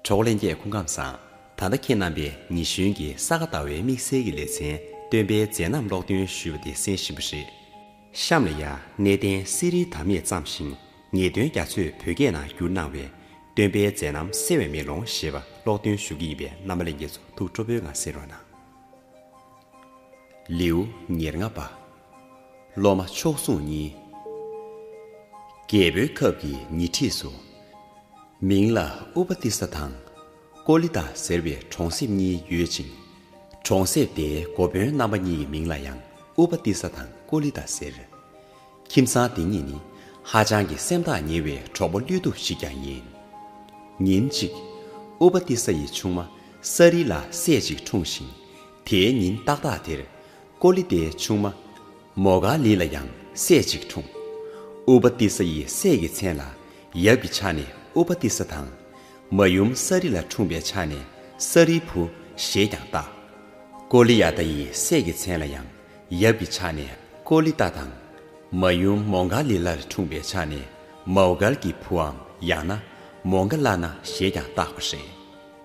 གྲོགས་ལས་འགྱེད་སྐུ་ཁམས་བཟང། ད་ལྟ་ཁྱེད་རྣམ་པས་ཉི་གཞོན་གྱི་ས་ག་ཟླ་བའི་དམིགས་བསལ་གྱི་ལེ་ཚན་སྟོན་པའི་མཛད་རྣམ་ཀློག་འདོན་ཞུས་པ་དེ་གསན་བཞིན་པ་རེད། གཤམ་ལ་ཡང་གནས་བརྟན་གསེར་རིའི་དམ་ཡེ་བརྩམས་ཤིང་ངེས་དོན་རྒྱ་མཚོས་བོད་སྐད་ནང་བསྒྱུར་གནང་བའི། སྟོན་པའི་མཛད་རྣམ་གསལ་བའི་མེ་ལོང་ཞེས་པ་ཀློག་འདོན་ཞུ་གི་ཡིན་པས་རྣམ་པ་ལས་འགྱེད་ཚོ་ཐུགས་སྤྲོ་པོའི་ངང་གསན་རོགས་གནང། ལེའུ་ཉེར་ལྔ་པ། སློབ་མ་མཆོག་ཟུང་གཉིས། རྒྱལ་པོའི་ཁབ་ཀྱི་ཉེ་འཁྲིས་སུ། མིང་ལ་ཨུ་པ་ཏི་ས་དང། ཀོ་ལི་ཏཱ་ཟེར་བའི་གྲོང་གསེབ་གཉིས་ཡོད་ཅིང། གྲོང་གསེབ་དེའི་འགོ་དཔོན་རྣམ་པ་གཉིས་ཀྱི་མིང་ལ་ཡང་ཨུ་པ་ཏི་ས་དང་ཀོ་ལི་ཏཱ་ཟེར། ཁྱིམ་ཚང་དེ་གཉིས་ནི་ཧ་ཅང་གི་སེམས་ཐག་ཉེ་བའི་གྲོགས་པོ་བློས་ཐུབ་ཞིག་ཀྱང་ཡིན། ཉིན་གཅིག། ཨུ་པ་ཏི་ས་ཡི་ཆུང་མ་ས་རི་ལ་སྲས་གཅིག་འཁྲུངས་ཤིང། དེའི་ཉིན་ཏག་ཏག་དེར། ཀོ་ལི་ཏའི་ཆུང་མ། མོ་ག་ལི་ལ་ཡང་སྲས་གཅིག་འཁྲུངས། ཨུ་པ་ཏི་ས་ཡི་སྲས་ཀྱི་མཚན་ལ་ཡབ་ཀྱི་ཕྱག་ནི་ཨུ་པ་ཏི་ས་དང། མ་ཡུམ་ས་རི་ལ་འཁྲུངས་པའི་ཕྱག་ནི་ས་རི་བུ་ཞེས་ཀྱང་བཏགས། ཀོ་ལི་ཡ་ཏཱ་ཡི་སྲས་ཀྱི་མཚན་ལ་ཡང་ཡབ་ཀྱི་ཕྱག་ནི་ཀོ་ལི་ཏཱ་དང། མ་ཡུམ་མོ་ག་ལི་ལར་འཁྲུངས་པའི་ཕྱག་ནི་མའོ་གལ་གྱི་བུའམ་ཡང་ན་མོ་ག་ལ་ན་ཞེས་ཀྱང་བཏགས་པ་རེད།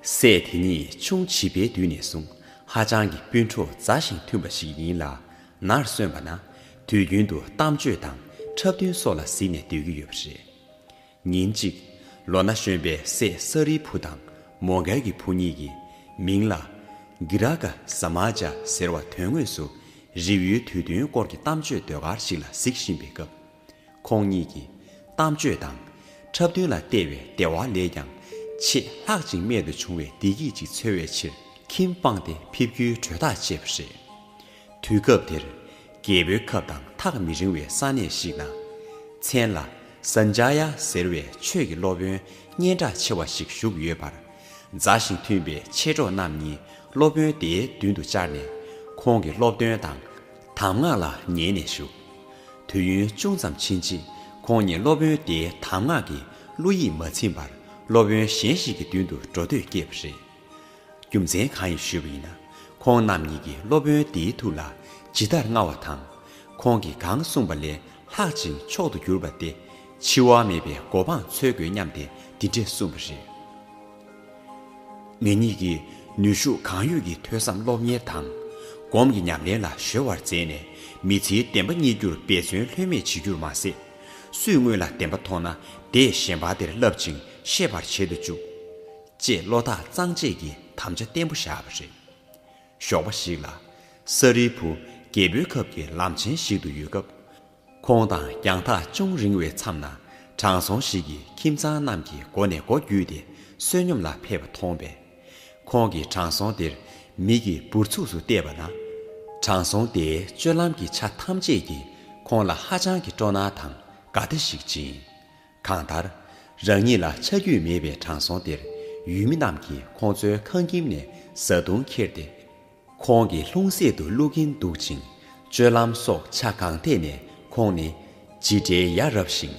སྲས་དེ་གཉིས་ཆུང་བྱིས་པའི་དུས་ནས་བཟུང་ཧ་ཅང་གི་སྤུན་གྲོགས་མཛའ་ཞིང་མཐུན་པ་ཞིག་ཡིན་ལ། ནར་སོན་པ་ན་དུས་རྒྱུན་དུ་གཏམ་བརྗོད་དང་འཁྲབ་སྟོན་སོགས་ལ་གཟིགས་ནས་སྡོད་ཀྱི་ཡོད་པ་རེད། ཉིན་གཅིག། ལོ་ན་གཞོན་པའི་སྲས་སཱ་རིའི་བུ་དང་མོ་གལ་གྱི་བུ་གཉིས་ཀྱིས་མིང་ལ། Giraka Samaja། ཟེར་བ་དོན་དངོས་སུ་རིགས་ཡོད་དུས་སྟོན་སྐོར་གྱི་གཏམ་བརྗོད་ཟློས་གར་ཞིག་ལ་གཟིགས་བཞིན་པའི་སྐབས། ཁོང་གཉིས་ཀྱི་གཏམ་སྤྱོད་དང། འཁྲབ་སྟོན་ལ་བལྟས་བའི་བདེ་བ་ལས་ཀྱང། ཆེས་ལྷག་ཅིང་རྨད་དུ་བྱུང་བའི་བདེ་སྐྱིད་ཅིག་འཚོལ་བའི་ཕྱིར། ཁྱིམ་སྤངས་ཏེ་ཕེབས་རྒྱུའི་གྲོས་ཐག་བཅད་པ་རེད། དུས་སྐབས་དེར། རྒྱལ་པོའི་ཁབ་དང་ཐག་མི་རིང་བའི་ས་གནས་ཤིག་ན། མཚན་ལ། Sanjaya། ཟེར་བའི་ཆོས་ཀྱི་སློབ་དཔོན་སྙན་གྲགས་ཆེ་བ་ཞིག་བཞུགས་ཡོད་པར། མཛའ་ཞིང་མཐུན་པའི་མཆེད་གྲོགས་རྣམས་གཉིས་སློབ་དཔོན་དེའི་མདུན་དུ་བཅར་ནས། ཁོང་གི་སློབ་སྟོན་དང། དམ་ངག་ལ་ཉན་ནས་བཞུགས། དུས་ཡུན་ཅུང་ཙམ་ཕྱིན་རྗེས་ཁོང་ཉིད་སློབ་དཔོན་དེའི་དམ་ངག་གི་གླུ་ཡིས་མ་ཚིམས་པར་སློབ་དཔོན་གཞན་ཞིག་གི་མདུན་དུ་འགྲོ་འདོད་སྐྱེས་པ་རེད། རྒྱུ་མཚན་གང་ཡིན་ཞུས་པ་ཡིན་ན། ཁོང་རྣམ་གཉིས་ཀྱིས་སློབ་དཔོན་དེའི་ཐུགས་ལ་ཇི་ལྟར་མངའ་བ་དང། ཁོང་གིས་གང་གསུངས་པ་ལས་ལྷག་ཅིང་མཆོག་ཏུ་གྱུར་པ་སྟེ། འཆི་བ་མེད་པའི་གོ་འཕང་འཚོལ་དགོས་སྙམ་སྟེ་འདི་འདྲས་གསུངས་པ་རེད། ངེད་གཉིས་ཀྱིས་ནུས་ཤུགས་གང་ཡོད་ཀྱིས་ཐོས་བསམ་སློབ་གཉེར་དང། སྒོམ་གྱི་ཉམས་ལེན་ལ་གཞོལ་བར་མཛད་ནས་མི་ཚེའི་བདེན་པ་རྙེད་རྒྱུར་འབད་བརྩོན་ལྷོད་མེད་བྱེད་རྒྱུར་མ་ཟད། སུས་དངོས་ལ་བདེན་པ་མཐོང་ན་དེས་གཞན་ཕ་དེར་བསླབ་ཅིང་ཤེས་པར་བྱེད་དུ་བཅུག། ཅེས་བློ་ཐག་གཙང་བཅད་ཀྱི་དམ་བཅའ་བརྟན་པོ་བཞག་པ་རེད། ཞོགས་པ་ཞིག་ལ། ས་རིལ་བུ་རྒྱལ་པོའི་ཁབ་ཀྱི་ལམ་ཆེན་ཞིག་ཏུ་ཡོད་སྐབས། ཁོང་དང་རྒྱང་ཐག་ཅུང་རིང་བའི་མཚམས་ན་དྲང་སྲོང་ཞིག་གིས་ཁྱིམ་ཚང་རྣམས་ཀྱི་སྒོ་ནས་སྒོ་བརྒྱུད་དེ་བསོད་སྙོམས་ལ་ཕེབས་པ་མཐོང་བས། ཁོང་གིས་དྲང་སྲོང་དེར་མིག་གིས་འབུར་ཚུགས་སུ་བལྟས་པ་ན། དྲང་སྲོང་དེས་སྤྱོད་ལམ་གྱི་ཆ་ཐམས་ཅད་ཀྱིས་ཁོང་ལ་ཧ་ཅང་གི་སྤྲོ་སྣང་དང་དགའ་བདེ་ཞིག་སྦྱིན། གང་ལྟར། རང་ཉིད་ལ་ཆ་རྒྱུས་མེད་པའི་དྲང་སྲོང་དེར་ཡུལ་མི་རྣམས་ཀྱིས་ཁོང་ཚོའི་ཁང་ཁྱིམ་ནས་བཟའ་བཏུང་ཁྱེར་ཏེ། ཁོང་གི་ལྷུང་བཟེད་དུ་བླུག་གིན་འདུག་ཅིང། སྤྱོད་ལམ་སོགས་ཆ་གང་ཐད་ནས་ཁོང་ནི། ཇི་འདྲའི་ཡ་རབས་ཤིང་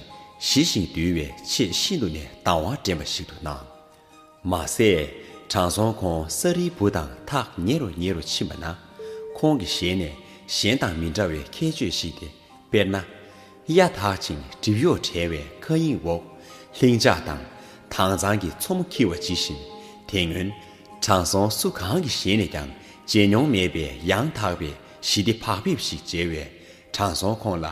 ཞི་ཞིང་དུལ་བའི་ཆེས་ཤིན་ཏུ་ནས་དང་བ་དྲན་པ་ཞིག་ཏུ་སྣང། མ་ཟད། དྲང་སྲོང་ཁོང་ས་རིལ་བུ་དང་ཐག་ཉེ་རུ་ཉེ་རུ་ཕྱིན་པ་ན། ཁོང་གི་ཞལ་ནས་གཞན་དང་མི་འདྲ་བའི་ཁྱད་ཆོས་ཤིག་དེ་དཔེར་ན། གཡའ་དག་ཅིང་སྒྲིབ་གཡོགས་བྲལ་བའི་མཁའ་དབྱིངས་འོག་ལྷིང་འཇགས་དང་དྭངས་གཙང་གི་མཚོ་མོ་འཁྱིལ་བ་ཇི་བཞིན། དེ་སྔོན་དྲང་སྲོང་སུ་གང་གི་ཞལ་ནས་ཀྱང་མཇལ་མྱོང་མེད་པའི་ཡང་དག་པའི་ཞི་བདེ་བག་ཕེབས་ཤིག་མཇལ་བས་དྲང་སྲོང་ཁོང་ལ་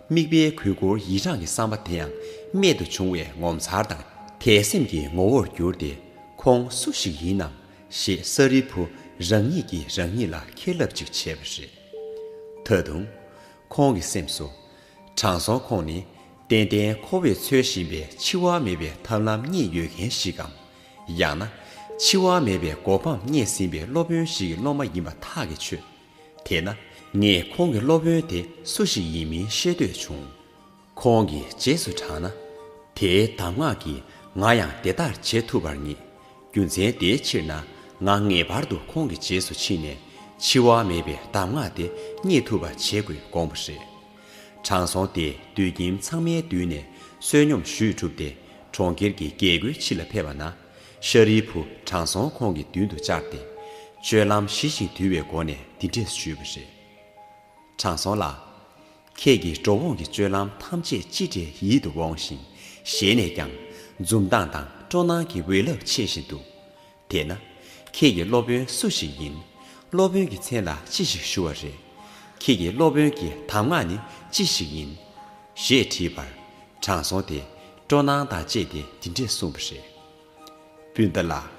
དམིགས་པའི་གུས་བཀུར་ཡིད་རངས་ཀྱི་བསམ་པ་དེ་ཡང་རྨད་དུ་བྱུང་བའི་ངོ་མཚར་དང་དད་སེམས་ཀྱི་ངོ་བོར་གྱུར་ཏེ་ཁོང་སུ་ཞིག་ཡིན་ནམ་ཞེས་ས་རིལ་བུ་རང་ཉིད་ཀྱིས་རང་ཉིད་ལ་ཁེར་ལབ་ཅིག་བྱས་པ་རེད། ད་དུང། ཁོང་གི་སེམས་སུ། དྲང་སྲོང་ཁོང་ནི་ཏན་ཏན་ཁོ་བོས་འཚོལ་བཞིན་པའི་འཆི་བ་མེད་པའི་ཐབས་ལམ་རྙེད་ཡོད་མཁན་ཞིག་གམ། ཡང་ན། འཆི་བ་མེད་པའི་གོ་འཕང་རྙེད་ཟིན་པའི་སློབ་དཔོན་ཞིག་གི་སློབ་མ་ཡིན་པ་ཐག་གིས་ཆོད། དེས་ན། ངས་ཁོང་གི་སློབ་དཔོན་དེ་སུ་ཞིག་ཡིན་མིན་ཤེས་འདོད་བྱུང། ཁོང་གི་རྗེས་སུ་འབྲངས་ན། དེའི་གདམས་ངག་གིས་ང་ཡང་དེ་ལྟར་བྱེད་ཐུབ་པར་ངེས། རྒྱུ་མཚན་དེའི་ཕྱིར་ན་ང་ངེས་པར་དུ་ཁོང་གི་རྗེས་སུ་ཕྱིན་ནས་འཆི་བ་མེད་པའི་གདམས་ངག་དེ་རྙེད་ཐུབ་པ་བྱེད་དགོས་དགོངས་པ་རེད། དྲང་སྲོང་དེས་དུད་ཁྱིམ་ཚང་མའི་མདུན་ནས་བསོད་སྙོམས་ཞུས་གྲུབ་སྟེ་གྲོང་ཁྱེར་གྱི་རྒྱལ་སྒོའི་ཕྱི་ལ་ཕེབས་པ་ན། ཤཱ་རིའི་བུ་དྲང་སྲོང་ཁོང་གི་མདུན་དུ་བཅར་ཏེ། སྤྱོད་ལམ་ཞི་ཞིང་དུལ་བའི་སྒོ་ནས་འདི་འདྲས་ཞུས་པ་རེད། དྲང་སྲོང་ལགས། ཁྱེད་ཀྱི་འགྲོ་འོང་གི་སྤྱོད་ལམ་ཐམས་ཅད་ཅི་འདྲའི་ཡིད་དུ་འོང་ཞིང། ཞལ་ནས་ཀྱང། འཛུམ་མདངས་དང་སྤྲོ་སྣང་གི་འོད་རླབས་མཆེད་བཞིན་འདུག། དེས་ན། ཁྱེད་ཀྱི་སློབ་དཔོན་སུ་ཞིག་ཡིན། སློབ་དཔོན་གྱི་མཚན་ལ་ཅི་ཞིག་ཞུ་བ་རེད། ཁྱེད་ཀྱི་སློབ་དཔོན་གྱི་གདམས་ངག་ནི་ཅི་ཞིག་ཡིན། ཞེས་དྲིས་པར། དྲང་སྲོང་དེས་སྤྲོ་སྣང་དང་བཅས་ཏེ་འདི་འདྲས་གསུངས་པ་རེད། སྤུན་ཟླ་ལགས།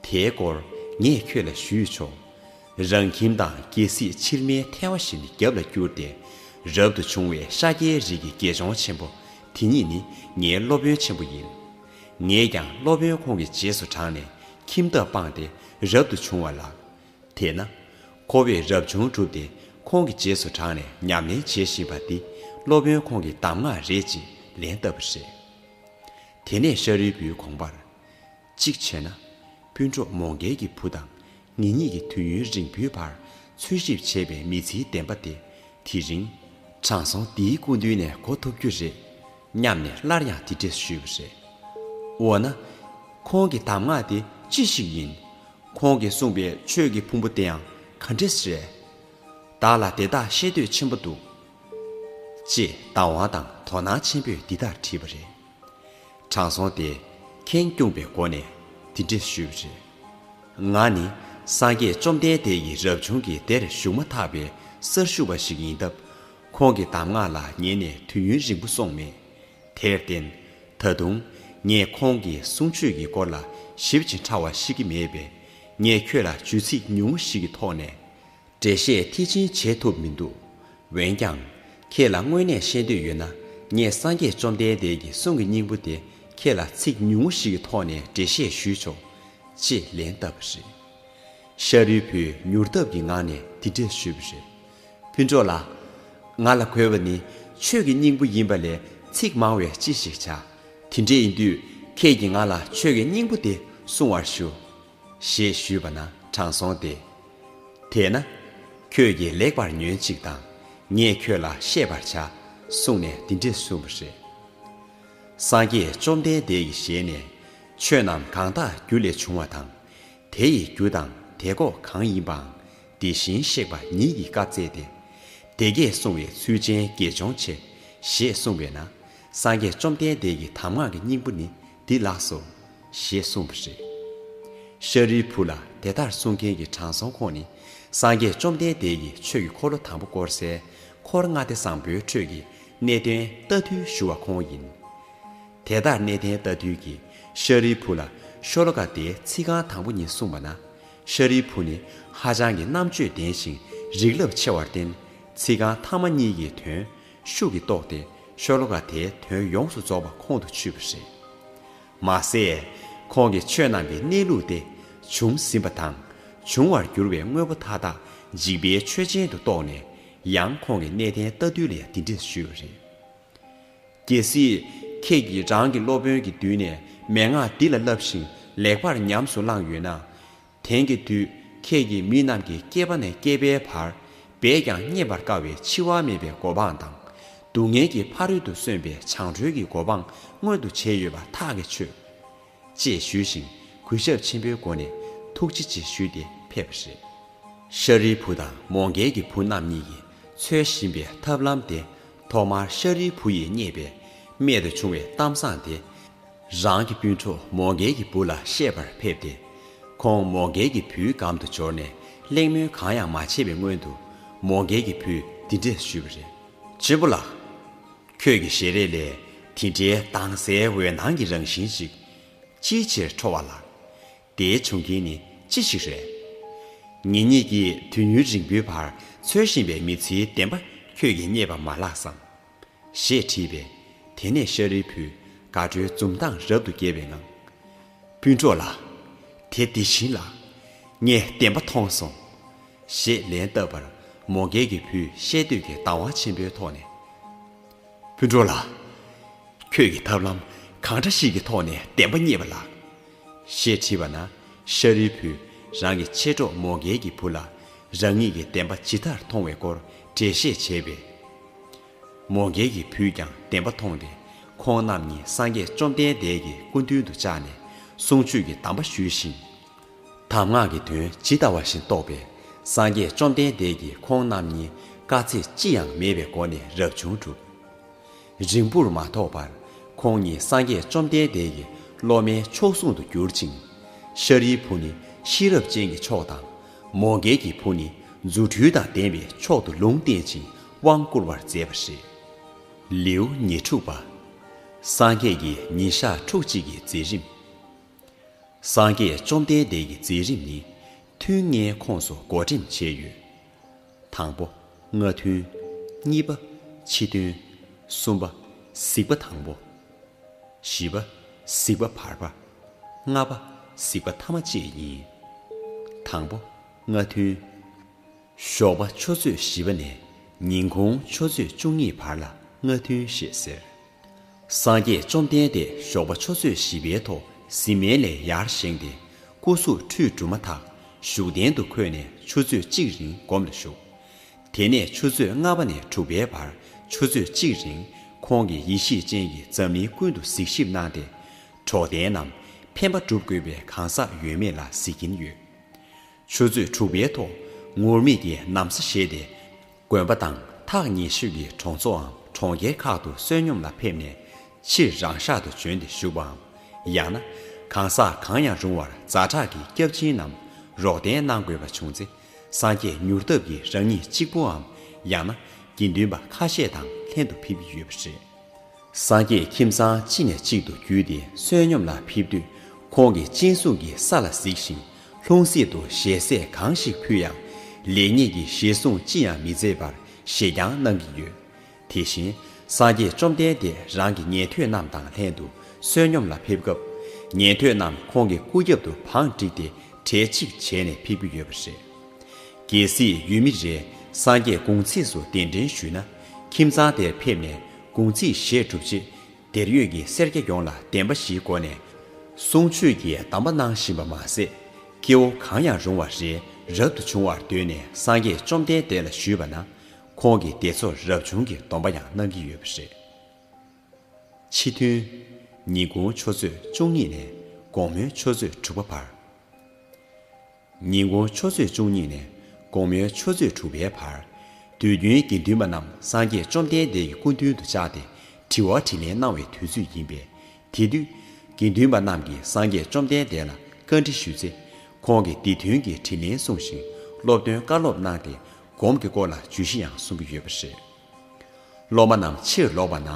དེའི་སྐོར་ངས་ཁྱོད་ལ་ཞུས་ཆོག། རང་ཁྱིམ་དང་རྒྱལ་སྲིད་ཕྱིར་མའི་ཐལ་བ་བཞིན་རྒྱབ་ལ་བསྐྱུར་ཏེ། རབ་ཏུ་བྱུང་བའི་ཤཱཀྱའི་རིགས་ཀྱི་དགེ་སྦྱོང་ཆེན་པོ་དེ་ཉིད་ནི་ངའི་སློབ་དཔོན་ཆེན་པོ་ཡིན། ངས་ཀྱང་སློབ་དཔོན་ཁོང་གི་རྗེས་སུ་འབྲངས་ནས་ཁྱིམ་ཐབ་སྤངས་ཏེ་རབ་ཏུ་བྱུང་བ་ལགས། དེས་ན། ཁོ་བོས་རབ་བྱུང་བསྒྲུབས་ཏེ་ཁོང་གི་རྗེས་སུ་འབྲངས་ནས་ཉམས་ལེན་བྱེད་བཞིན་པ་འདི་སློབ་དཔོན་ཁོང་གི་གདམས་ངག་རེད་ཅེས་ལན་བཏབ་པ་རེད། དེ་ནས་ཤཱ་རིའི་བུའི་དགོངས་པར། གཅིག་བྱས་ན། སྤུན་གྲོགས་མོ་འགལ་གྱི་བུ་དང་ངེད་གཉིས་ཀྱི་དུས་ཡུན་རིང་བོའི་བར་འཚོལ་ཞིབ་བྱས་པའི་མི་ཚེའི་བདེན་པ་དེ་དེ་རིང། དྲང་སྲོང་འདིའི་སྐུ་མདུན་ནས་གོ་ཐུབ་རྒྱུ་རེད་སྙམ་ནས་སླར་ཡང་དེ་འདྲས་ཞུས་པ་རེད། འོ་ན། ཁོང་གི་གདམས་ངག་དེ་ཅི་ཞིག་ཡིན། ཁོང་གིས་གསུངས་པའི་ཆོས་ཀྱི་ཕུང་པོ་དེའང་ག་འདྲས་རེད། བདག་ལ་དེ་དག་ཤེས་འདོད་ཆེན་པོ་འདུག། ཅེས་བདག་དབང་དང་དོ་སྣང་ཆེན་པོས་འདི་ལྟར་དྲིས་པ་རེད། དྲང་སྲོང་དེས་ཁེངས་སྐྱུང་བའི་སྒོ་ནས་འདི་འདྲི་ཞུས་པ་རེད། ང་ནི་སངས་རྒྱས་བཅོམ་ལྡན་འདས་ཀྱི་རབ་བྱུང་གི་སྡེར་ཞུགས་མ་ཐག་པའི་སར་ཞུགས་པ་ཞིག་ཡིན་སྟབས། ཁོང་གི་གདམས་ངག་ལ་ཉན་ནས་དུས་ཡུན་རིང་པོ་སོང་མེད། དེར་བརྟེན། ད་དུང་ངས་ཁོང་གི་གསུང་ཆོས་ཀྱི་སྐོར་ལ་ཞིབ་ཅིང་ཕྲ་བ་ཤེས་ཀྱི་མེད་པས། ངས་ཁྱོད་ལ་བརྗོད་ཚིག་ཉུང་ངུ་ཞིག་གི་ཐོག་ནས། འགྲེལ་བཤད་མཐིལ་ཕྱིན་བྱེད་ཐུབ་མི་འདུག་འོན་ཀྱང། ཁྱེད་ལ་དངོས་གནས་ཤེས་འདོད་ཡོད་ན་ངས་སངས་རྒྱས་བཅོམ་ལྡན་འདས་ཀྱི་གསུང་གི་སྙིང་པོ་དེ་ཁྱེད་ལ་ཚིག་ཉུང་ངུ་ཞིག་གི་ཐོག་ནས་འགྲེལ་བཤད་ཞུས་ཆོག། ཅེས་ལན་བཏབ་པ་རེད། ཤ་རུས་བུས་མྱུར་སྟབས་ཀྱི་ངང་ནས་དེ་འགྲེལ་ཞུས་པ་རེད། ཕུན་ཚོགས་ལགས། ང་ལ་གོ་བ་ནི་ཆོས་ཀྱི་སྙིང་པོ་ཡིན་པ་ལས་ཚིག་མང་བས་ཅི་ཞིག་བྱ། དེ་འདྲ་ཡིན་དུས་ཁྱེད་ཀྱིས་ང་ལ་ཆོས་ཀྱི་སྙིང་པོ་དེ་གསུང་བར་ཞུ། ཞེས་ཞུས་པ་ན་དྲང་སོང་སྟེ། དེས་ན། ཁྱོད་ཀྱིས་ལེགས་པར་ཉོན་ཅིག་དང། ངས་ཁྱོད་ལ་བཤད་པར་བྱ། གསུངས་ནས་འདི་འདྲས་གསུངས་པ་རེད། སངས་རྒྱས་བཅོམ་ལྡན་འདས་ཀྱི་ཞལ་ནས། ཆོས་རྣམས་གང་དག་རྒྱུ་ལས་བྱུང་བ་དང། དེ་ཡི་རྒྱུ་དང་དེ་གོ་གང་ཡིན་པའང་དེ་བཞིན་གཤེགས་པ་ཉིད་ཀྱིས་བཀའ་སྩལ་ཏེ། དེ་སྐད་གསུང་བའི་ཚུལ་ཅན་དགེ་སྦྱོང་ཆེ། ཞེས་གསུངས་པས་ན། སངས་རྒྱས་བཅོམ་ལྡན་འདས་ཀྱི་གདམས་ངག་གི་སྙིང་པོ་ནི་འདི་ལགས་སོ། ཞེས་གསུངས་པ་རེད། ཤཱ་རིའི་བུ་ལ་དེ་ལྟར་གསུང་མཁན་གྱི་དྲང་སྲོང་ཁོང་ནི་སངས་རྒྱས་བཅོམ་ལྡན་འདས་ཀྱི་ཆོས་ཀྱི་འཁོར་ལོ་དང་པོ་བསྐོར་སའི་འཁོར་ལྔ་སྡེ་བཟང་པོའི་ཁྲོད་ཀྱི་གནས་བརྟན་རྟ་ཐུལ་ཞུ་བ་ཁོང་ཡིན། དེ་ལྟར་གནས་བརྟན་རྟ་ཐུལ་གྱིས་ཤཱ་རིའི་བུ་ལ་ཤོ་ལོ་ཀ་དེའི་ཚིག་རྐང་དང་པོ་གཉིས་གསུངས་པ་ན་ཤཱ་རིའི་བུ་ནི་ཧ་ཅང་གི་རྣམ་དཔྱོད་ལྡན་ཞིང་རིགས་རླབས་ཆེ་བར་བརྟེན་ཚིག་རྐང་ཐ་མ་གཉིས་ཀྱི་དོན་ཤུགས་ཀྱིས་རྟོགས་ཏེ་ཤོ་ལོ་ཀ་དེའི་དོན་ཡོངས་སུ་རྫོགས་པ་ཁོང་དུ་ཆུད་པ་རེད། མ་ཟད། ཁོང་གིས་ཆོས་རྣམས་ཀྱི་གནས་ལུགས་ཏེ། བྱུང་ཟིན་པ་དང། འབྱུང་བར་འགྱུར་བའི་དངོས་པོ་མཐའ་དག་འཇིག་པའི་ཆོས་ཅན་དུ་རྟོགས་ནས། ཡང་ཁོང་གི་གནས་བརྟན་རྟ་འདུལ་ལས་འདི་འདྲས་ཞུས་པ་རེད། གལ་སྲིད། ཁྱེད་ཀྱིས་རང་གི་སློབ་དཔོན་གྱི་མདུན་ནས་མན་ངག་འདི་ལ་བསླབས་ཤིང་ལེགས་པར་ཉམས་སུ་བླངས་ཡོད་ན། དེང་གི་དུས་ཁྱེད་ཀྱིས་མི་རྣམས་ཀྱི་སྐྱེས་པ་ནས་སྐྱེས་པའི་བར་འབད་ཀྱང་རྙེད་པར་དཀའ་བའི་འཆི་བ་མེད་པའི་གོ་འཕང་དང། སྡུག་བསྔལ་གྱི་ཕ་རོལ་ཏུ་སོན་པའི་བྱང་གྲོལ་གྱི་གོ་འཕང་མངོན་དུ་བྱས་ཡོད་པ་ཐག་གིས་ཆོད། ཅེས་ཞུས་ཤིང་གུས་ཞབས་ཆེན་པོའི་སྒོ་ནས་ཐུགས་རྗེ་ཆེ་ཞུས་ཏེ་ཕེབས་པ་རེད། ཤཱ་རིའི་བུ་དང་མོའུ་འགལ་གྱི་བུ་རྣམ་གཉིས་ཀྱིས་འཚོལ་བཞིན་པའི་ཐབས་ལམ་དེ་ཐོག་མར་ཤཱ་རིའི་བུ་ཡིས་རྙེད་པའི་རྨད་དུ་བྱུང་བའི་གཏམ་བཟང་དེ། རང་གི་སྤུན་གྲོགས་མོ་མགལ་གྱི་བུ་ལ་བཤད་པར་ཕེབས་ཏེ། ཁོང་མོ་མགལ་གྱི་བུའི་གམ་དུ་འབྱོར་ནས་གླེང་མོལ་གང་ཡང་མ་བྱས་པའི་སྔོན་དུ། མོ་མགལ་གྱི་བུས་འདི་འདྲས་ཞུས་པ་རེད། གཅེན་པོ་ལགས། ཁྱོད་ཀྱི་ཞལ་རས་ལས་དེ་འདྲའི་དྭངས་གསལ་འོད་སྣང་གི་རང་བཞིན་ཞིག་ཅིའི་ཕྱིར་འཕྲོ་བ་ལགས། དེའི་བྱུང་རྐྱེན་ནི་ཅི་ཞིག་རེད། ངེད་གཉིས་ཀྱིས་དུས་ཡུན་རིང་པོའི་བར་འཚོལ་བཞིན་པའི་མི་ཚེའི་བདེན་པ་ཁྱོད་ཀྱིས་རྙེད་པ་མ་ལགས་སམ། ཞེས་དྲིས་པས། དེ་ནས་ཤཱ་རིའི་བུས་དགའ་སྤྲོའི་འཛུམ་མདངས་རབ་ཏུ་རྒྱས་པའི་ངང། སྤུན་གྲོགས་ལགས། དེ་འདི་བྱིན་ལ། ངས་བདེན་པ་མཐོང་སོང། ཞེས་ལན་བཏབ་པར་མོ་མགལ་གྱི་བུས་ཤེས་འདོད་ཀྱི་དང་བ་ཆེན་པོའི་ཐོག་ནས། སྤུན་གྲོགས་ལགས། ཁྱོད་ཀྱིས་ཐབས་ལམ་གང་འདྲ་ཞིག་གི་ཐོག་ནས་བདེན་པ་རྙེད་པ་ལགས། ཞེས་དྲིས་པ་ན་ཤཱ་རིའི་བུས་རང་གི་མཆེད་གྲོགས་མོ་མགལ་གྱི་བུ་ལ་རང་ཉིད་ཀྱིས་བདེན་པ་ཇི་ལྟར་མཐོང་བའི་སྐོར་འགྲེལ་བཤད་བྱས་པས། མོ་མཁན་གྱི་བུས་ཀྱང་བདེན་པ་མཐོང་སྟེ་ཁོང་རྣམས་གཉིས་སངས་རྒྱས་བཅོམ་ལྡན་འདས་ཀྱི་སྐུ་མདུན་དུ་བཅར་ནས་གསུང་ཆོས་ཀྱི་གདམས་པ་ཞུས་ཤིང། གདམས་ངག་གི་དོན་ཇི་ལྟ་བ་བཞིན་རྟོགས་པས་སངས་རྒྱས་བཅོམ་ལྡན་འདས་ཀྱིས་ཁོང་རྣམས་གཉིས་དཀའ་ཚེགས་ཅི་ཡང་མེད་པའི་སྒོ་ནས་རབ་བྱུང་གྲུབ། རིང་པོར་མ་ཐོགས་པར་ཁོང་གཉིས་སངས་རྒྱས་བཅོམ་ལྡན་འདས་ཀྱི་སློབ་མའི་མཆོག་ཟུང་དུ་གྱུར་ཅིང། ཤཱ་རིའི་བུ་ནི་ཤེས་རབ་ཅན་གྱི་མཆོག་དང། མོ་མགལ་གྱི་བུ་ནི་རྫུ་འཕྲུལ་དང་ལྡན་པས་མཆོག་ཏུ་ལུང་བསྟན་ཅིང་དབང་བསྐུར་བར་མཛད་པ་རེད། ལེའུ་ཉེར་དྲུག་པ། སངས་རྒྱས་ཀྱི་ཉིན་ཞག་ཕྲུགས་གཅིག་གི་མཛད་རིམ། སངས་རྒྱས་བཅོམ་ལྡན་འདས་ཀྱི་མཛད་རིམ་ནི་ཐུན་ལྔའི་ཁོངས་སུ་བགོ་འགྲེམས་བྱས་ཡོད། དང་པོ། སྔ་ཐུན། གཉིས་པ། ཕྱི་ཐུན། གསུམ་པ། གཟིགས་པ་དང་པོ། བཞི་པ། གཟིགས་པ་བར་པ། ལྔ་པ། གཟིགས་པ་ཐ་མ་བཅས་ཡིན། དང་པོ། སྔ་ཐུན། ཞོགས་པ་ཆུ་ཚོད་བཞི་པ་ནས་ཉིན་གུང་ཆུ་ཚོད་བཅུ་གཉིས་བར་ལ་སྔ་ཐུན་ཞེས་ཟེར། སངས་རྒྱས་བཅོམ་ལྡན་འདས་ཞོགས་པ་ཆུ་ཚོད་བཞི་པའི་ཐོག་གཟིམ་མལ་ལས་ཡར་བཞེངས་ཏེ་སྐུ་གཟུགས་ཁྲུས་བསྒྲུབས་མ་ཐག་བཞུགས་གདན་དུ་འཁོད་ནས་ཆུ་ཚོད་གཅིག་རིང་སྒོམ་ལ་བཞུགས། དེ་ནས་ཆུ་ཚོད་ལྔ་པ་ནས་དྲུག་པའི་བར་ཆུ་ཚོད་གཅིག་རིང་ཁོང་གིས་ཡེ་ཤེས་སྤྱན་གྱིས་འཛམ་གླིང་ཀུན་ཏུ་གཟིགས་ཞིབ་གནང་སྟེ། གྲོགས་དན་རྣམས་ཕན་པ་བསྒྲུབ་དགོས་པའི་གང་ཟག་ཡོད་མེད་ལ་གཟིགས་ཀྱིན་ཡོད། ཆུ་ཚོད་དྲུག་པའི་ཐོག་ངུར་སྨྲིག་གི་གནམ་ས་བཞེས་ཏེ། དགོན་པ་དང་ཐག་ཉེ་ཤོས་ཀྱི་གྲོང་ཚོའམ་གྲོང་ཁྱེར་ཁག་ཏུ་བསོད་སྙོམས་ལ་ཕེབས་ནས། ཕྱིར་རང་ཤག་ཏུ་བྱོན་ཏེ་བཞུགས་པའམ། ཡང་ན། གང་ཟག་གང་ཡང་རུང་བར་རྫ་བྲག་གི་སྐྱབས་སྦྱིན་ནམ་རོགས་དན་གནང་དགོས་པ་བྱུང་ཚེ། སངས་རྒྱས་མྱུར་སྟབས་ཀྱིས་རང་ཉིད་གཅིག་པུའམ་ཡང་ན་དགེ་འདུན་པ་ཁ་ཤས་དང་ལྷན་དུ་ཕེབས་ཀྱི་ཡོད་པ་རེད། སངས་རྒྱས་ཁྱིམ་ཚང་གཅིག་ནས་གཅིག་ཏུ་བརྒྱུད་དེ་བསོད་སྙོམས་ལ་ཕེབས་དུས་ཁོང་གིས་སྤྱན་ཟུང་གིས་ས་ལ་གཟིགས་ཤིང་ལྷུང་བཟེད་དུ་ཞལ་ཟས་གང་ཞིག་ཕུལ་ཡང། ལེགས་ཉེས་ཀྱི་བཞེད་བཟུང་ཅི་ཡང་མི་མཛད་པར་བཞེས་རྐྱང་གནང་གི་ཡོད། དེ་བཞིན་སངས་རྒྱས་བཅོམ་ལྡན་འདས་རང་གི་ཉན་ཐོས་རྣམས་དང་ལྷན་དུ་བསོད་སྙོམས་ལ་ཕེབས་སྐབས། ཉན་ཐོས་རྣམས་ཁོང་གི་སྐུ་རྒྱབ་ཏུ་བང་བསྒྲིགས་ཏེ་གྲལ་གཅིག་བྱས་ནས་ཕེབས་ཀྱི་ཡོད་པ་རེད། གལ་སྲིད་ཡུལ་མི་རེས་སངས་རྒྱས་དགུང་ཚིགས་སུ་གདན་འདྲེན་ཞུས་ན་ཁྱིམ་ཚང་དེར་ཕེབས་ནས་གུང་ཚིགས་བཞེས་གྲུབ་རྗེས་དེར་ཡོད་ཀྱི་སེར་སྐྱ་ཡོངས་ལ་བདེན་པ་བཞིའི་སྒོ་ནས་གསུང་ཆོས་ཀྱི་གདམས་པ་གནང་བཞིན་པ་མ་ཟད། སྐྱེ་བོ་གང་ཡང་རུང་བ་རེ་རབ་ཏུ་བྱུང་བར་འདོད་ནས་སངས་རྒྱས་བཅོམ་ལྡན་འདས་ལ་ཞུས་པ་ན། ཁོང་གིས་དེ་ཚོར་རབ་བྱུང་གི་སྡོམ་པ་ཡང་གནང་གི་ཡོད་པ་རེད། ཕྱི་ཐུན། ཉིན་གུང་ཆུ་ཚོད་བཅུ་གཉིས་ནས་དགོང་མོའི་ཆུ་ཚོད་དྲུག་པ་བར། ཉིན་གུང་ཆུ་ཚོད་བཅུ་གཉིས་ནས་དགོང་མོའི་ཆུ་ཚོད་དྲུག་པའི་བར། དུས་རྒྱུན་དགེ་འདུན་པ་རྣམས་སངས་རྒྱས་བཅོམ་ལྡན་འདས་ཀྱི་སྐུ་མདུན་དུ་བཅར་ཏེ་དྲི་བ་དྲིས་ལན་གནང་བའི་དུས་ཚོད་ཡིན་པས། དེ་དུས། དགེ་འདུན་པ་རྣམས་ཀྱིས་སངས་རྒྱས་བཅོམ་ལྡན་འདས་ལ་བཀའ་འདྲི་ཞུས་ཚེ། ཁོང་གིས་འདི་དོན་གྱི་དྲིས་ལན་གསུངས་ཤིང་སློབ་སྟོན་བཀའ་སློབ་གནང་སྟེ་སྒོམ་གྱི་སྐོར་ལ་བརྗོད་གཞི་ཡང་གསུང་གི་ཡོད་པ་རེད། སློབ་མ་རྣམས་ཕྱིར་ལོག་པ་ན།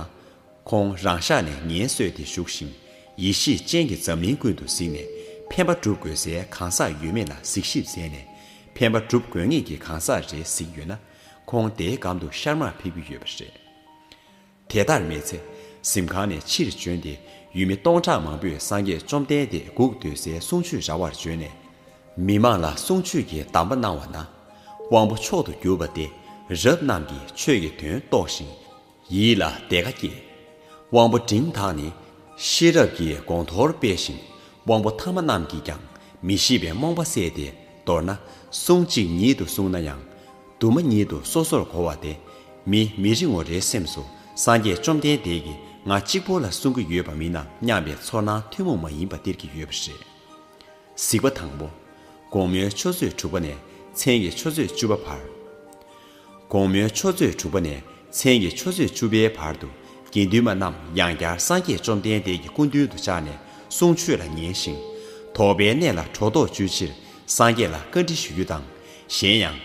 ཁོང་རང་ཤག་ནས་ངལ་གསོས་ཏེ་བཞུགས་ཤིང། ཡེ་ཤེས་ཅན་གྱིས་འཛམ་གླིང་ཀུན་ཏུ་གཟིགས་ནས་ཕན་པ་བསྒྲུབ་དགོས་སའི་གང་ཟག་ཡོད་མེད་ལ་གཟིགས་ཞིབ་མཛད་ནས་ཕན་པ་བསྒྲུབ་དགོས་ངེས་ཀྱི་གང་ཟག་རེ་གཟིགས་ཡོད་ན། ཁོང་དེའི་གམ་དུ་ཤར་མར་ཕེབས་ཀྱི་ཡོད་པ་རེད། དེ་ལྟར་མེད་ཚེ། གཟིམ་ཁང་ནས་ཕྱིར་བྱོན་ཏེ་ཡུལ་མི་སྟོང་ཕྲག་མང་པོས་སངས་རྒྱས་བཅོམ་ལྡན་འདས་འགུགས་འདོད་སའི་གསུང་ཆོས་ར་བར་བྱོན་ནས། མི་མང་ལ་གསུང་ཆོས་ཀྱི་གདམས་པ་གནང་བ་ན། དབང་པོ་མཆོག་ཏུ་གྱུར་པ་སྟེ་རབ་རྣམས་ཀྱིས་ཆོས་ཀྱི་དོན་རྟོགས་ཤིང། ཡིད་ལ་དེ་ཀ་སྐྱེས། དབང་པོ་འབྲིང་དག་ནི། ཤེས་རབ་ཀྱི་དགོངས་མཐོར་སྤེལ་ཞིང་དབང་པོ་ཐ་མ་རྣམས་ཀྱིས་ཀྱང་མི་ཤེས་པའི་རྨོངས་པ་བསལ་ཏེ་མདོར་ན་གསུང་གཅིག་ཉིད་དུ་གསུངས་ན་ཡང། དུ་མ་ཉིད་དུ་སོ་སོར་གོ་བ་དེ་མི་མི་རིང་ངོ་རེའི་སེམས་སུ་སངས་རྒྱས་བཅོམ་ལྡན་འདས་ཀྱིས་ང་གཅིག་པོ་ལ་གསུང་གི་ཡོད་པ་མིན་ནམ་སྙམ་པའི་ཚོར་སྣང་ཐུན་མོང་མ་ཡིན་པ་སྟེར་གྱི་ཡོད་པ་རེད། གཟིགས་པ་དང་པོ། དགོང་མོའི་ཆུ་ཚོད་དྲུག་པ་ནས་མཚན་གྱི་ཆུ་ཚོད་བཅུ་པ་བར། དགོང་མོའི་ཆུ་ཚོད་དྲུག་པ་ནས་མཚན་གྱི་ཆུ་ཚོད་བཅུ་པའི་བར་དུ་དགེ་འདུན་མ་རྣམས་ཡང་བསྐྱར་སངས་རྒྱས་བཅོམ་ལྡན་འདས་ཀྱི་སྐུ་མདུན་དུ་ཕྱག་ནས་གསུང་ཆོས་ལ་ཉན་ཞིང། དོགས་པའི་གནས་ལ་གྲོགས་དོགས་གཅོད་ཕྱིར་སངས་རྒྱས་ལ་བཀའ་འདྲི་ཞུ་རྒྱུ་དང། གཞན་ཡང།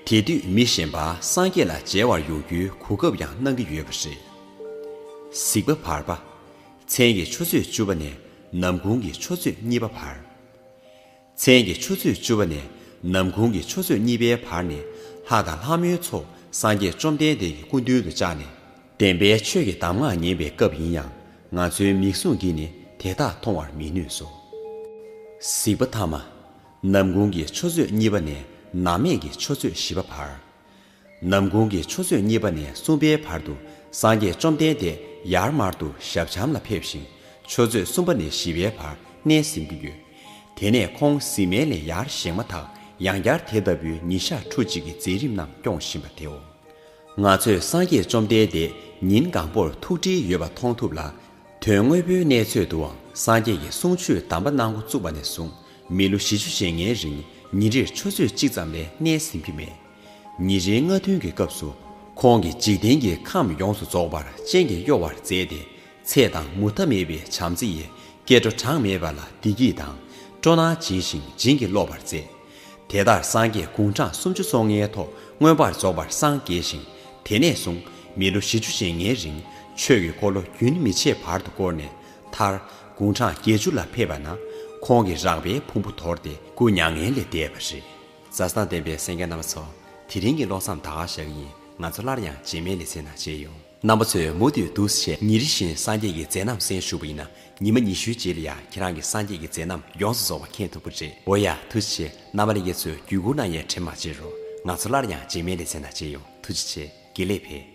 དེ་དུས་མི་གཞན་པ་སངས་རྒྱས་ལ་མཇལ་བར་ཡོང་རྒྱུའི་གོ་སྐབས་ཡང་གནང་གི་ཡོད་པ་རེད། གཟིགས་པ་བར་པ། མཚན་གྱི་ཆུ་ཚོད་བཅུ་པ་ནས་ནམ་གུང་གི་ཆུ་ཚོད་གཉིས་པ་བར། མཚན་གྱི་ཆུ་ཚོད་བཅུ་བ་ནས་ནམ་གུང་གི་ཆུ་ཚོད་གཉིས་པའི་བར་ནི་ལྷ་དང་ལྷ་མོའི་ཚོགས་སངས་རྒྱས་བཅོམ་ལྡན་འདས་ཀྱི་སྐུ་མདུན་དུ་བཅགས་ནས། བདེན་པའི་ཆོས་ཀྱི་གདམས་ངག་ཉན་པའི་སྐབས་ཡིན་ཡང་ང་ཚོའི་མིག་ཟུང་གིས་ནི་དེ་དག་མཐོང་བར་མི་ནུས་སོ། གཟིགས་པ་ཐ་མ། ནམ་གུང་གི་ཆུ་ཚོད་གཉིས་པ་ནས་ནམ་སྨད་ཀྱི་ཆུ་ཚོད་བཞི་བ་བར། ནམ་གུང་གི་ཆུ་ཚོད་གཉིས་པ་ནས་གསུམ་པའི་བར་དུ་སངས་རྒྱས་བཅོམ་ལྡན་འདས་ཡར་མར་དུ་ཞབས་བྱམས་ལ་ཕེབས་ཤིང་ཆུ་ཚོད་གསུམ་པ་ནས་བཞི་པའི་བར་གནས་ཟིན་གྱི་ཡོད། དེ་ནས་ཁོང་གཟིམས་མལ་ལས་ཡར་བཞེངས་མ་ཐག་ཡང་བསྐྱར་དེ་ལྟ་བུའི་ཉིན་ཞག་ཁྲུ་གཅིག་གི་མཛད་རིམ་རྣམས་སྐྱོང་བཞིན་པ་དེའོ། ང་ཚོས་སངས་རྒྱས་བཅོམ་ལྡན་འདས་ཉིན་གང་པོར་ཐུགས་བྲིས་ཡོད་པ་མཐོང་ཐུབ་ལ། དོན་དངོས་པོའི་གནས་ཚོད་དུའང་སངས་རྒྱས་ཀྱི་གསུང་ཆོས་གདམས་པ་གནང་འགོ་བཙུགས་པ་ནས་བཟུང་མི་ལོ་བཞི་ཅུ་ཞེ་ལྔའི་རིང་ཉིན་རེར་ཆུ་ཚོད་གཅིག་ཙམ་ལས་གནས་ཟིན་གྱི་མེད། ཉིན་རེའི་སྔ་ཐུན་གྱི་སྐབས་སུ་ཁོང་གིས་འཇིག་རྟེན་གྱི་ཁམས་ཡོངས་སུ་རྫོགས་པར་སྤྱན་གྱིས་གཡོ་བར་མཛད་དེ་ཚེ་དང་མུ་མཐའ་མེད་པའི་བྱམས་བརྩེ་ཡི་སྐྱེ་འགྲོ་གྲངས་མེད་པ་ལ་བདེ་སྐྱིད་དང་སྤྲོ་སྣང་སྦྱིན་ཞིང་བྱིན་གྱིས་རློབ་པར་མཛད། དེ་ལྟར་སངས་རྒྱས་དགུང་གྲངས་སུམ་ཅུ་སོ་ལྔའི་ཐོག་མངོན་པར་རྫོགས་པར་སངས་རྒྱས་ཤིང་དེ་ནས་བཟུང་མི་ལོ་བཞི་བཅུ་ཞེ་ལྔའི་རིང་ཆོས་ཀྱི་འཁོར་ལོ་རྒྱུན་མི་ཆད་བར་དུ་བསྐོར་ནས་མཐར་དགུང་གྲངས་བརྒྱད་ཅུ་ལ་ཕེབས་པ་ན་ཁོང་གི་རགས་པའི་ཕུང་པོ་དོར་ཏེ་སྐུ་མྱ་ངན་ལས་འདས་པ་རེད། མཛའ་ཐང་ལྡན་པའི་སེང་གེ་རྣམ་པ་ཚོ། དེ་རིང་གི་ཀློག་མཚམས་ད་ག་བཞག་གི་ཡིན་ང་ཚོ་སླར་ཡང་རྗེས་མའི་ལེ་ཚན་ནང་མཇལ་ཡོང། རྣམ་པ་ཚོས་མུ་མཐུད་འདུ་ཤེས་ཉིན་རེ་བཞིན་སངས་རྒྱས་ཀྱི་མཛད་རྣམ་གསན་ཞུ་བ་ཡིན་ན་ཉི་མ་ཉི་ཤུའི་རྗེས་ལ་ཡང་ཁྱེད་རང་གི་སངས་རྒྱས་ཀྱི་མཛད་རྣམ་ཡོངས་སུ་རྫོགས་པ་མཁྱེན་ཐུབ་ཀྱི་རེད་འོ་ཡ་ཐུགས་རྗེ་ཆེ་རྣམ་པ་ལས་ཀའི་ཚོས་བརྒྱུད་སྐུར་གནང་ཡས་ཁྲེལ་མ་བྱེད་རོགས་ང་ཚོ་སླར་ཡང་རྗེས་མའི་ལེ་ཚན་ནང་མཇལ་ཡོང་ཐུགས་རྗེ་ཆེ་དགེ་ལེགས་འཕེལ།